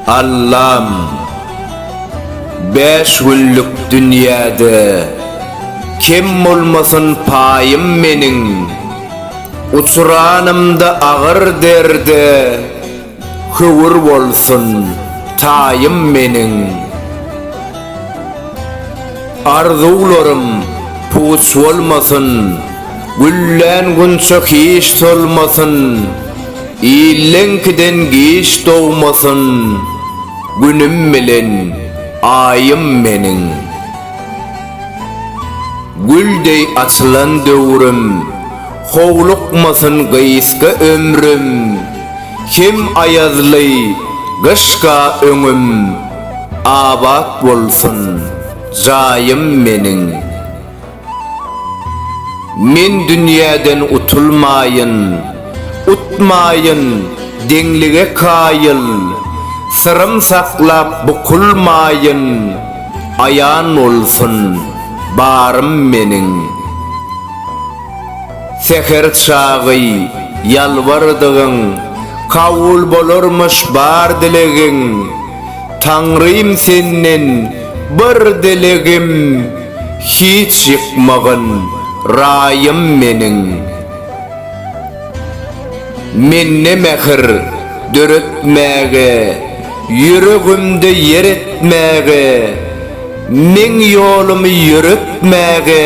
Allam, Bäş günlük dünýäde Kem bolmasyn paýym meniň, Uçranymda agyr derde Höwür bolsun, taýym meniň. Arzuwlarym puç bolmasyn, Güllän gunça hiç solmasyn, Illeňkiden giç dogmasyn, Günüm bilen Aýym meniň. Gül deý açylan döwrüm. Howlukmasyn gysga ömrüm, Hem aýazly gyşka öňüm, Abat bolsun jaýym meniň. Men dünýäden utulmaýyn, Utmaýyn deňlige kaýyl, Syrym saklap bukulmaýyn, Aýan bolsun barym meniň. Säher çagy ýalbardygyň kabul bolarmyş bar dilegiň, Taňrym senden bir dilegim hiç ýykmagyn raýym meniň. Mende mähir döretmäge, ýüregimde ýer etmäge, meň ýolumy ýöretmäge,